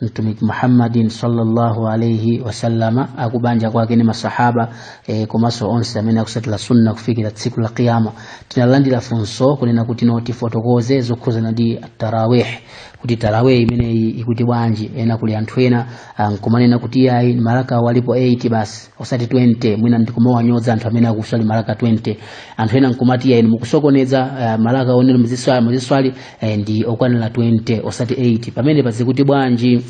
mtumiki muhammadin sallallahu alaihi wasallama akubanja kwake ni masahaba e, komanso onse amene akusatira sunna kufikira tsiku la qiyama tinalandira funso kunena kuti no tifotokoze zokhuzana ndi tarawih kuti tarawih imeneyi zikuti bwanji ena kuli anthu ena ah, nkumanena kuti yayi maraka walipo 8 basi osati 20 mwina ndikumawanyoza anthu amene akuswali maraka 20 anthu ena nkumati yayi mukusokoneza uh, maraka onena muziswali muziswali eh, ndi okwanira 20 osati 8 pamenepa zikuti bwanji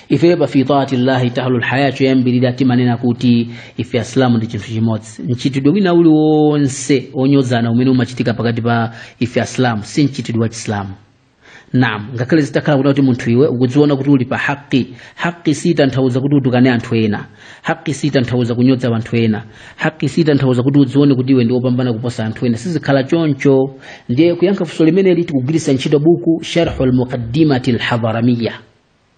ife pa fi taati llahi tahlu lhayatu choyambirira timanena kuti ife asilamu ndi chinthu chimodzi mchitidwe wina uliwonse wonyozana umene umachitika pakati pa ife asilamu si mchitidwe wa chisilamu nam ngakhale zitakhala kunena kuti munthu iwe ukudziona kuti uli pa haqi haqi siyitanthauza kuti utukane anthu ena haqi siyitanthauza kunyoza anthu ena haqi siyitanthauza kuti udzione kuti iwe ndi wopambana kuposa anthu ena siikhala choncho ndiye kuyankha funso limeneli tikugwiritsa ntchito buku sharhu lmuqaddimati lhadaramiya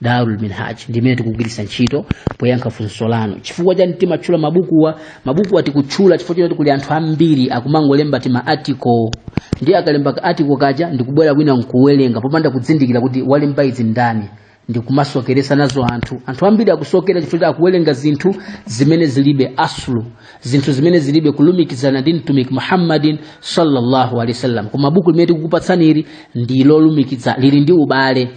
darul minhaj ndi imene tikugwiritsa ntchito poyankha funso lanu chifukwa chani timatchula mabukuwa mabukuwa tikutchula chifukwa choti kuli anthu ambiri akumangolemba tima article ndiye akalemba ka article kaja ndikubwera kwina nkuwerenga popanda kuzindikira kuti walemba izi ndani ndikumasokeresa nazo anthu anthu ambiri akusokera chifukwa choti akuwerenga zinthu zimene zilibe asulu zinthu zimene zilibe kulumikizana ndi mtumiki muhammadin sallallahu alaihi wasallam koma buku limene tikukupatsani ili ndi lolumikizana lili ndi ubale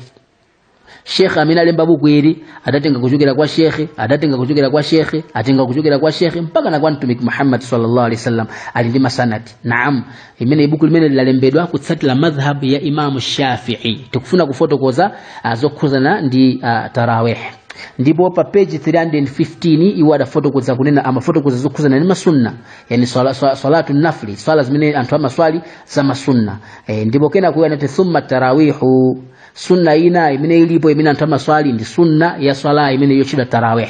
shekhe amene alemba buku ili adatenga kuchokera kwa shekhe adatenga kuchokera kwa shekhe atenga kuchokera kwa shekhe mpaka na kwa mtumiki muhammad sallallahu alaihi wasallam ali ndi masanadi naam limeneli buku limene lalembedwa kutsatira madhhabu ya imamu shafii tikufuna kufotokoza ah, zokhuzana ndi ah, tarawih ndipo pa page 315 iwo adafotokoza kunena amafotokoza zokhuzana ndi masunna yani swala, swala, swalatu nafli swala zimene anthu amaswali za masunna e, ndipo kenako iwo anati thumma tarawihu sunna ina imene ilipo imene anthu amaswali ndi sunna ya swala imene yotchedwa tarawih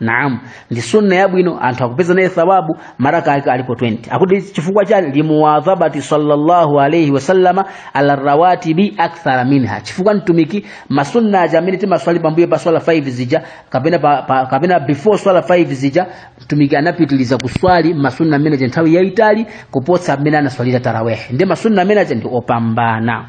naam ndi sunna yabwino anthu akupeza naye thawabu maraka ake alipo 20 akuti chifukwa chani limuwadhabati sallallahu alaihi wasallama ala rawatibi akthara minha chifukwa mtumiki masunna aja amene timaswali pambuyo pa swala 5 zija kapena pa, pa, kapena before swala 5 zija mtumiki anapitiliza kuswali masunna amene aja nthawi yaitali kuposa mmene anaswalira tarawehe ndiye masunna amene aja ndi opambana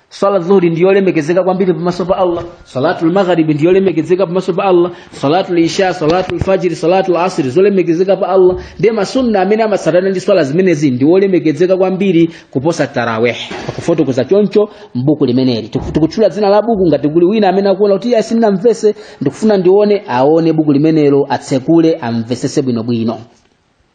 swala dhuhuri ndiyolemekezeka kwambiri pamaso pa allah salatu lmagharibi ndiyolemekezeka pamaso pa allah salatu lisha salatu lfajiri salatu lasiri zolemekezeka pa allah ndiye masunna amene amatsatana ndi swala zimenezi ndiwolemekezeka kwambiri kuposa taraweh akufotokoza choncho mbuku limeneli Tiku- tikutchula dzina la buku ngati kuli wina amene akuona kuti iye sindinamvese ndikufuna ndione aone buku limenelo atsekule amvesese bwinobwino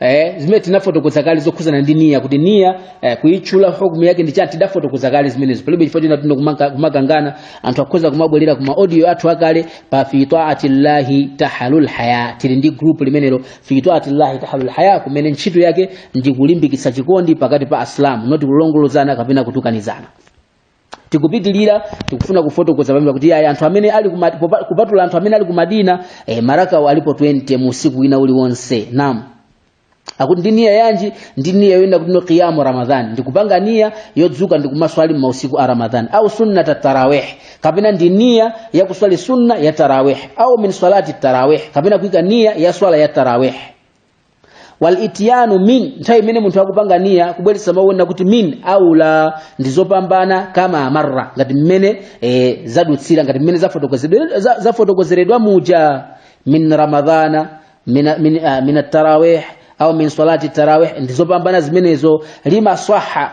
eh, zimene tinafotokoza kale zokhuzana ndi niya kuti niya eh, kuitchula hukumu yake ndi chani tidafotokoza kale zimenezo palibe chifukwa choti tino kumaka- kumakangana anthu akhoza kumabwerera kuma audio athu akale pa fi taati llahi tahalul haya tili ndi group limenelo fi taati llahi tahalul haya kumene ntchito yake ndi kulimbikitsa chikondi pakati pa asilamu noti kulongolozana kapena kutukanizana tikupitilira tikufuna kufotokoza pamwe kuti ayi anthu amene ali ku Mad- popa- kupatula anthu amene ali ku madina eh, marakawa alipo 20 mu usiku wina uliwonse naam akuti ndi niya yanji ndi niya yoyenda kuti no qiyamu ramadhan ndikupanga niya yodzuka ndikumaswali m'mausiku a ramadhan au sunnata tarawih kapena ndi niya ya kuswali sunna ya tarawih au min salati tarawih kapena kuika niya ya swala ya tarawih wal ityanu min nthawi imene munthu akupanga niya kubweretsa mawu onena kuti min aula ndi zopambana kama marra ngati mmene e, zadutsira ngati mmene zafotokozedwe- za- zafotokozeredwa muja min ramadhana min, min, ah, min at-tarawih au min salati tarawih ndi zopambana zimenezo lima swaha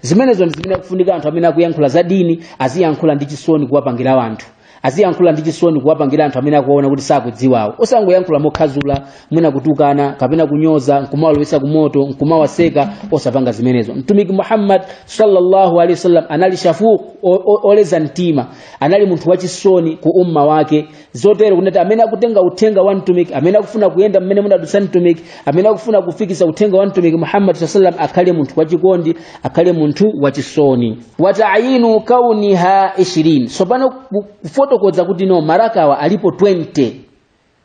zimenezo ndi zimene akufunika anthu amene akuyankhula za dini aziyankhula ndi chisoni kuwapangira anthu aziyankhula ndi chisoni kuwapangira anthu amene akuwaona kuti sakudziwawo osangoyankhula mokhazula mwina kutukana kapena kunyoza nkumawalowetsa kumoto nkumawaseka osapanga zimenezo mtumiki muhammad sallallahu alaihi wasallam anali shafuq o- o- oleza mtima anali munthu wachisoni ku umma wake zotero kuti amene akutenga uthenga wa mtumiki amene akufuna kuyenda mmene anadutsa mtumiki amene akufuna kufikisa uthenga wa mtumiki muhammad saa salam akhale munthu wachikondi akhale munthu wachisoni watayinu kauniha 20 tsopano ku- kufotokoza kuti no marakawa alipo 20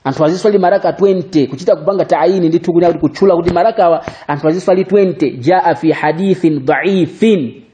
anthu aziswali maraka 20 kuchita kupanga taayini ndithu kunena kuti kutchula kuti marakawa anthu aziswali 20 jaa fi hadithin dhaifin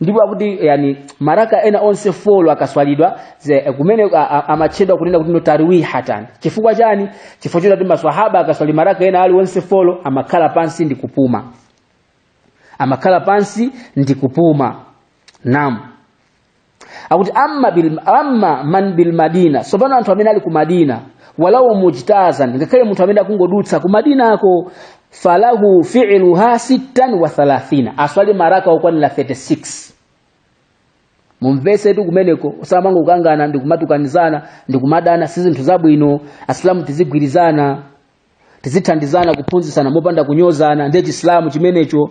ndipo akuti yani maraka ena alionse folo akaswalidwa ze- kumene a- a- amatchedwa kunena kuti notarwihatan chifukwa chani chifukwa choti maswahaba akaswali maraka ena ali onse folo amakhala pansi ndi kupuma amakhala pansi ndi kupuma naam akuti amma, bil, amma man bil madina sopano anthu amene ali ku madina walau mujtazan ngakhale munthu amene akungodutsa ku madinako falahu fi'luha sittan wa thalathina aswali maraka okwanira 36 mumvesetu kumeneko osamangokangana ndi kumatukanizana ndi kumadana si zinthu zabwino asilamu tizigwirizana tizithandizana kuphunzitsana mopanda kunyozana ndiye chisilamu chimenecho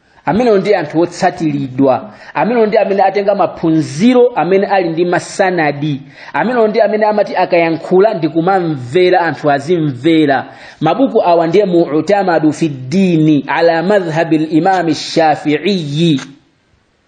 amenewo ndi anthu otsatiridwa amenewo ndi amene atenga maphunziro amene ali ndi masanadi amenewo ndi amene amati akayankhula ndi kumamvera anthu azimvera mabuku awa ndiye mutamadu fi ddini ala madhhabi limami shafiiyi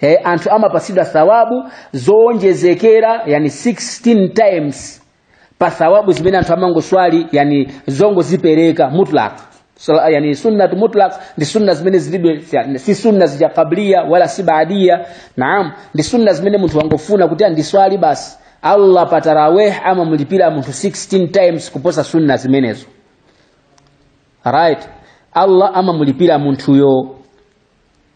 he anthu amapatsidwa thawabu zowonjezekera yani 16 times pa thawabu zimene anthu amangoswali yani zongozipereka mutlaq Sala- yani sunnat mutlaq ndi sunna zimene zilibe yani, si sunna zija qabliya wala si baadia naam ndi sunna zimene munthu wangofuna kuti andiswali basi allah pa taraweh amamlipira munthu 16 times kuposa sunna zimenezo right allah amamlipira munthuyo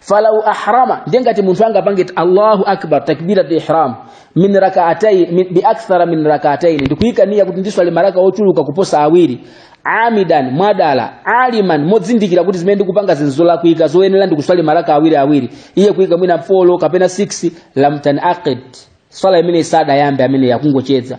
falau ahrama ndiye ngati munthu angapange allahu akbar takbirat ihram min rakaatai min, bi akthara min rakaatain ndikuyika niya kuti ndiswali maraka ochuluka kuposa awiri amidan mwadala aliman modzindikira kuti zimene ndikupanga nzolakwika zoyenera ndikuswali maraka awiri awiri iye kuyika mwina 4 kapena 6 lam tanaqid swala imeneyi sidayambe amene akungocheza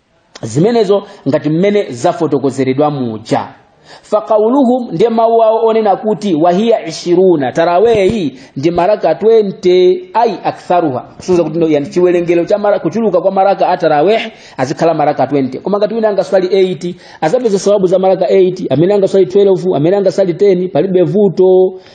zimenezo ngati mmene zafotokozeredwa muja faqauluhum ndiye mawu awo onena kuti wahiya ishruna taraweh ndi maraka 20 ayi aktharuha kusonyeza kuti no, yani chiwerengero cha mara, kuchuluka kwa maraka a taraweh azikhala maraka 20 koma ngati wina angaswali 8 azapeza thawabu za maraka 8 amene angaswali 12 amene angaswali 10 palibe vuto